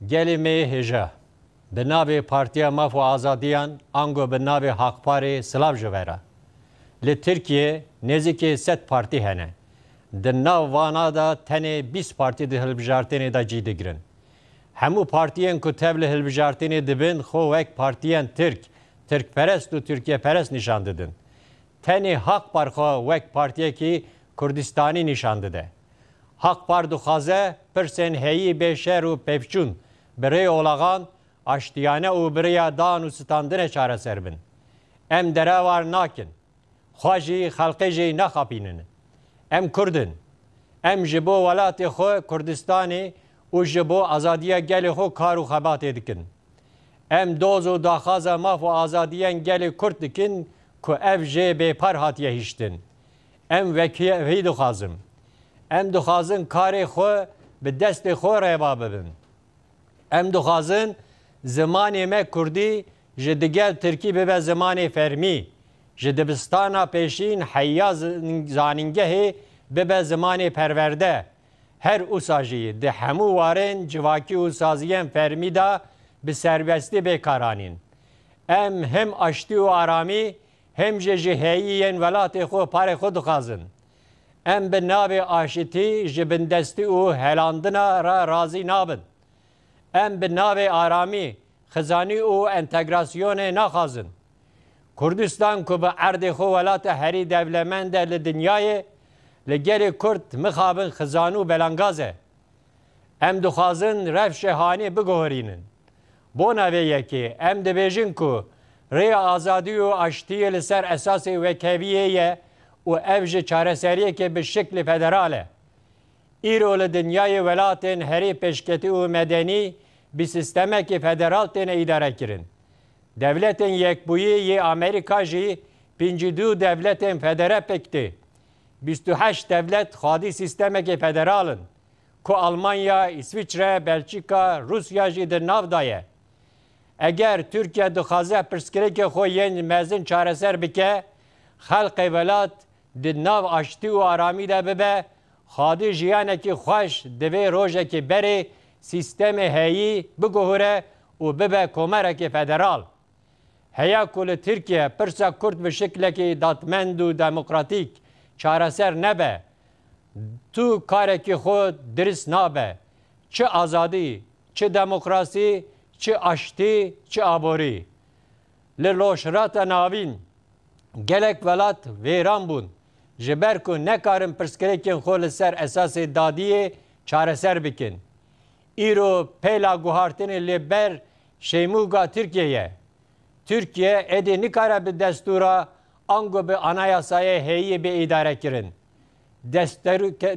Gelê me yê hêja, bi navê Partiya Maf û Azadiyan ango bi navê Hakparê silav ji we re. Li Tirkiyeyê nêzîkê sed partî hene. Di nav vana de tenê bîst partî di hilbijartênê de cî digirin. Hemû partiyên ku tev li hilbijartênê dibin xwe wek partiyên Tirk, Tirkperest û Tirkiyeperest nîşan didin. Tenê Hakpar xwe wek partiyekî Kurdistanî nîşan dide. Haqpar dixwaze pirsên heyî bê şer û pevçûn, bi rê olaxan, aştiyane û bi riya dan û sitandinê çareser bin. Em derevar nakin. Xwe jî, xelqê jî naxapînin. Em Kurd in. Em ji bo welatê xwe Kurdistanê û ji bo azadiya gelê xwe kar û xebatê dikin. Em doz û daxwaza maf û azadiyen gelê Kurd dikin ku ev jê bêpar hatiye hiştin. Em vekî vî dixwazin. Em dixwazin karê xwe bi destê xwe reva bibin. Em dixwazin zimanê me kurdî ji digel tirkî bibe zimanê fermî, ji dibistana pêşîn heya zanîngehê bibe zimanê perwerde. Her usa jî di hemû warên civakî û saziyên fermî de bi serbestî bê kar anîn. Em him aştî û aramî Him jî ji heyî yên welatê xwe parê xwe dixwazin. Em bi navê aşitî ji bindestî û helandina re razî nabin. Em bi navê aramî, xizanî û entegrasyonê naxwazin. Kurdistan ku bi erdê xwe welata herî dewlemend e li dinyayê, li gelê Kurd mixabin xizan û belangaz e. Em dixwazin rewşê hanê biguherînin. Bona vê yekê em dibêjin ku rêya azadî û aştiyê li ser esasê wekheviyê ye û ev ji çareseriyekê bi şiklê federal e. Îro li dinyayê welatên herî pêşketî û medenî bi sîstemekê federal têne îdarekirin. Dewletên Yekbûyî yê Amerîka jî pêncî du dewletên federe pêk tê. Bîst û heşt dewlet xwedî sîstemekê federal in, ku Almanya, Îsviçre, Belçîka, Rûsya jî di nav de ye. Eger Tirkiye dixwaze pirsgirêkê xwe yên mezin çareser bike, xelkê welat di nav aştî û aramî de bibe, xwedî jiyanekî xweş divê rojekê berê sîstemê heyî biguhûre û bibe komerekê federal. Heya ku li Tirkiye pirsa Kurd bi şiklekî dadmend û demokratîk çareser nebe, tu karekî xwe dirist nabe. Çi azadî, çi demokrasî, çi aştî, çi aborî. Li Rojhilata Navîn gelek welat vêran bûn, ji ber ku nekarin pirsgirêkên xwe li ser esasê dadiyê çareser bikin. Îro peyla guhartinê li ber şeymûga Tirkiyê ye. Tirkiye êdî nikare bi destûra ango bi anayasayê hêyî bê îdarekirin.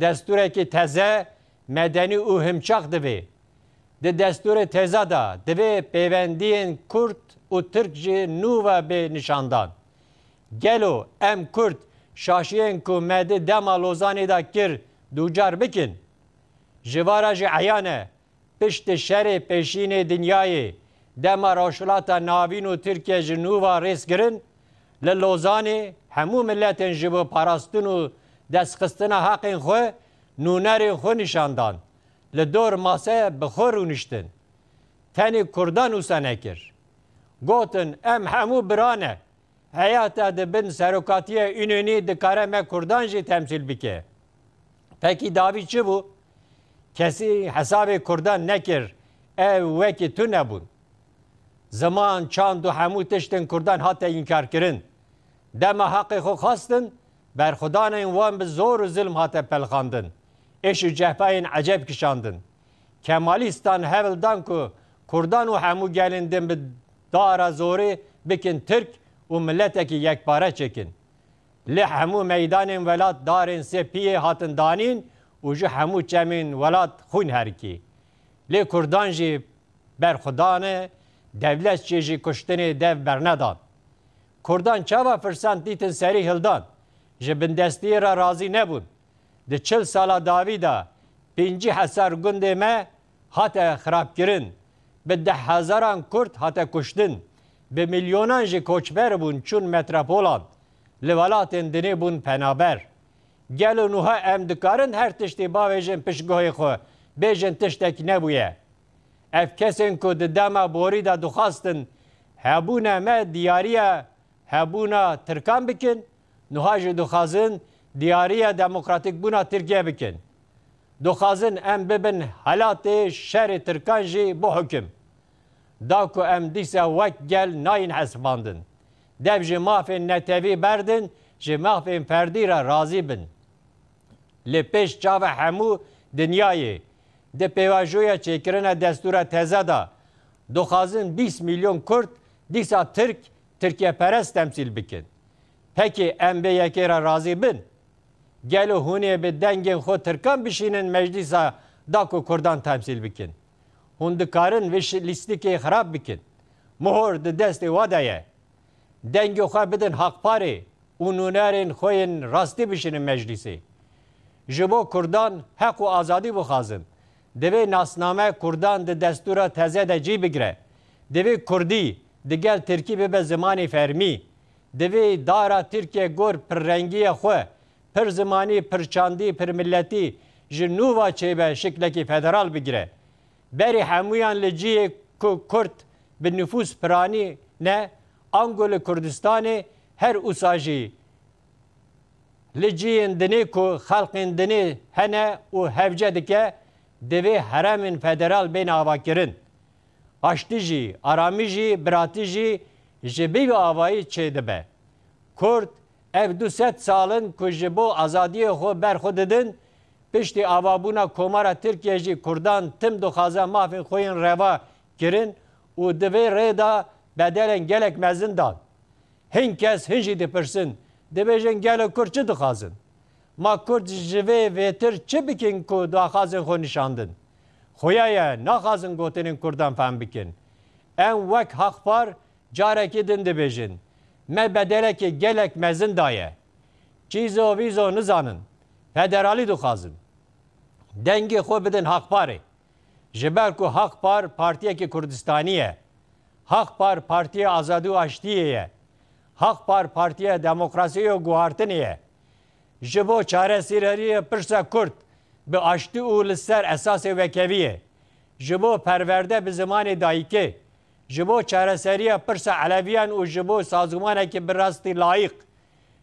Destûrekî teze, medenî û himçax divê. Di destûrê teza de divê pêwendiyên kurd û tirk ji nû ve bê nişandan. Gelo em kurd şaşiyên ku me di dema Lozanê de kir dûcar bikin? Ji van re jî eyan e, piştî şerê pêşînê dinyayê, dema Rojhilata Navîn û Tirkiye ji nû ve rêz kirin, li Lozanê hemû miletên ji bo parastin û destxistina heqên xwe nûnerên xwe nîşan dan, li dor mase bi xwe rûniştin. Tenê Kurdan wisa nekir. Gotin, Em hemû bira ne, Heya te di bin serokatiya Înonî dikare me Kurdan jî temsîl bike. Fekî davî çi bû? Kesî hesabê Kurdan nekir, ew wekî tu nebûn. Ziman, çand û hemû tişt in Kurdan hate înkarkirin. Dema heqê xwe xwestin, berxwedanên wan bi zor û zilm hate pelxandin, êş û cehpayên ecêb kişandin. Kemalîstan hewl dan ku kurdan û hemû gelên din bi dara zorê bikin tirk û miletekî yekpare çêkin. Lê hemû meydanên welat darên sê piyê hatin danîn û ji hemû çemên welat xwîn herikî. Lê kurdan jî ber xwe dane, dewlet çêjî kuştinê dev bernedan. Kurdan çawa firsend dîtin serî hildan, ji bindestiyê re razî nebûn, Di çil sala dawî de pêncî hezar gundê me hate xirabkirin, bi deh hezaran Kurd hate kuştin, bi milyonan jî koçber bûn çûn metrepolan, li welatên dinê bûn penaber. Gelo nuha em dikarin her tiştî bavêjin pişt guhê xwe, bêjin tiştek nebûye? Ev kesên ku di dema borî de dixwastin hebûna me diyariya Hebûna Tirkan bikin, nuha jî dixwazin diyariya demokratîk bûna Tirkiye bikin. Dixwazin em bibin helatê şerê Tirkan jî bo hukim. Da ku em dîsa wek gel nayên hesibandin, dev ji mafên netewî berdin, ji mafên ferdî re razî bin. Li pêş çavê hemû dinyayê, di pêvajoya çêkirina destûra teze de, dixwazin bîst milyon Kurd dîsa Tirk Tirkiye perest temsîl bikin. Pekê em vê yekê re razî bin? Gelo hûn ê bi dengên xwe tirkan bişînin meclîsa da ku kurdan temsîl bikin? Hûn dikarin vê lîstikê xirab bikin. Mihor di destê we de ye. Dengê xwe bidin Hakparê û nûnerên xwe yên rastî bişînin meclîsê. Ji bo kurdan heq û azadî bixwazin. Divê nasname kurdan di destûra teze de cî bigire. Divê kurdî digel tirkî bibe zimanê fermî. Divê dara Tirkiye gor pirrengîya xwe, pirzimanî, pirçandî, pirmiletî ji nû va çêbe şiklekî federal bigire. Berî hemûyan li cihê ku kurd bi nifûs piranî ne, ango li Kurdistanê her usa jî Li cihên dinê ku xelkên dinê hene û hevce dike divê heremên federal bên avakirin. Aştî jî, aramî jî, biratî jî ji vî avayî çêdibe. Kurd ev du sed sal in ku ji bo azadiyê xwe ber xwe didin, piştî avabûna Komara Tirkiyê jî kurdan tim dixwaze mafên xwe yên reva kirin û di vê rê de bedelên gelek mezin dan. Hin kes hin jî dipirsin, dibêjin gelo Kurd çi dixwazin? Ma Kurd ji vê vêtir çi bikin ku di axazên xwe nişandin? Xuya ye naxwazin gotinên Kurdan fehm bikin. Em wek Haqpar carekî din dibêjin, me bedelekê gelek mezin daye. Çîzo vîzo nizanin, federalî dixwazin. Dengê xwe bidin Haqparê. Ji ber ku Haqpar partiyekî Kurdistanî ye. Haq Par Partiya Azadî û Aştiyê ye. Haq Par Partiya Demokrasiyê û Guhartinê ye. Ji bo çaresireriyê pirsa kurd bi aştî û li ser esasê wekeviyê, ji bo perwerde bi zimanê dayikê, ji bo çareseriya pirsa eleviyan û ji bo sazûmanekî bi rastî layîq,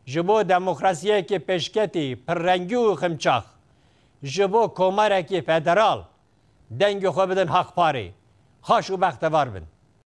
ji bo demokrasiyekî pêşketî, pirrengî û ximçax, ji bo komarekî federal. Dengê xwe bidin Hak Parê. Xaş û bextevar bin.